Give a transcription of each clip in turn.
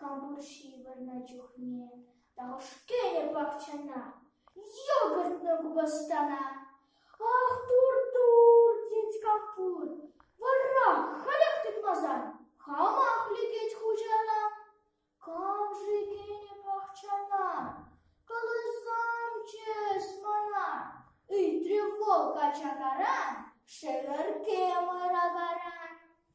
Кантур ҫывӑрнӑ чухне тахӑш-ҫке пахчана йӑлтӑртнӑ купӑстана. Ах, тур-тур, тет Кантур, вара халех тытмасан хамах лекет хуҫана. Кам-ши кӗнӗ пахчана? Каласамччӗ-с мана, ыйтрӗ вӑл качакаран шӗвӗркемӗр агаран.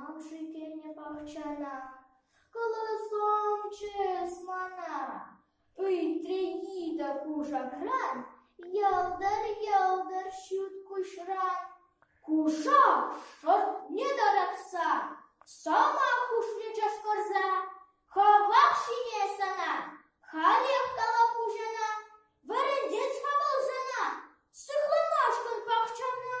Ав-ши тенӗ пахчана кӑлӑсомчӗс мана, Ыйтрӗ Ида кушакран, Йӑлтӑр-йӑлтӑр ҫут куҫран. Кушак шӑртне тӑратса Сӑмах хушрӗ чӑшкӑрса, Хӑвах ҫине сана, Халех калап хуҫана, Вӗрентет-ха вӑл сана, Сыхланашкӑн пахчана.